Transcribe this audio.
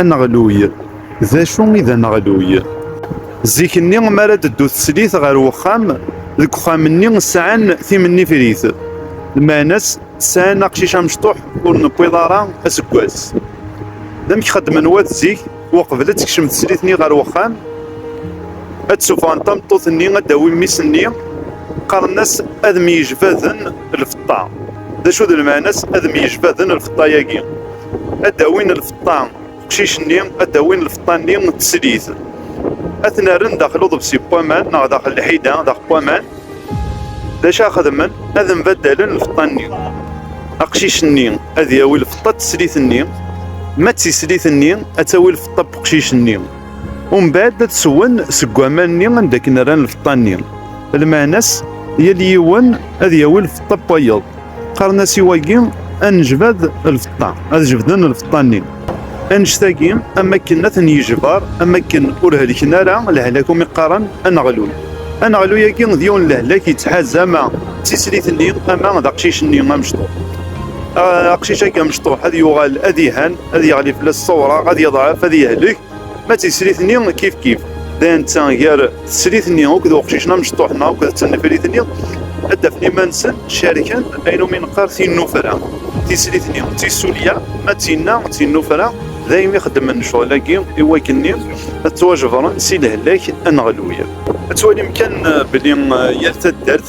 Aneɣluy, d acu i d aneɣluy? Zik-nni mi ara d-teddu teslit ɣer wexxam, deg wexxam-nni sɛan timennifrit, lmeɛna-s sɛan aqcic amecṭuḥ ur newwiḍ ara aseggas. D amek xeddmen wat zik, uqbel ad tekcem teslit-nni ɣer wexxam, ad d-sufɣen tameṭṭut-nni ad d-tawi mmi-s-nni, qqaren-as ad myejbaden lfeṭṭa. D acu d lmeɛna-s ad myejbaden lfeṭṭa-yagi? ad d-awin lfeṭṭa uqcic-nni, ad d-awin lfeṭṭa-nni n teslit. Ad ten-rren daxel uḍebsi n waman neɣ daxel lḥida, daxel waman. D acu ad xedmen? Ad mbaddalen lfeṭṭa-nni. Aqcic-nni ad yawi lfeṭṭa n teslit-nni, ma d tislit-nni ad tawi lfeṭṭa n uqcic-nni. Umbad ad swen seg waman-nni anda akken rran lfeṭṭa-nni. Lmeɛna-s, yal yiwen ad yawi lfeṭṭa n wayeḍ. qqaren-as i wagi anejbad lfeṭṭa ad jebden lfeṭṭa-nni anect-agi am akken ad ten-yejbar am akken ur helken ara lehlak umi qqaren aneɣlul aneɣlu-agi d yiwen lehlak yettḥaz ama d tislit-nni ama d aqcic-nni amecṭuḥ aqcic-agi amecṭuḥ ad yuɣal ad ihan ad yeɣli fell-as ṣṣawra ad yeḍɛef ad yehlek Ma d tislit-nni kif kif d netta gar teslit-nni akked uqcic-nni amecṭuḥ-nni akked tnefrit-nni ad d-afen iman-nsen cerken ayen umi neqqar tinnufra. Tislit-nni d tissulya, ma d tinna d tinnufra, daymi xeddmen ccɣel-agi i wakken-nni ad ttwajebren si lehlak aneɣluy. Ad twalim kan belli yal taddart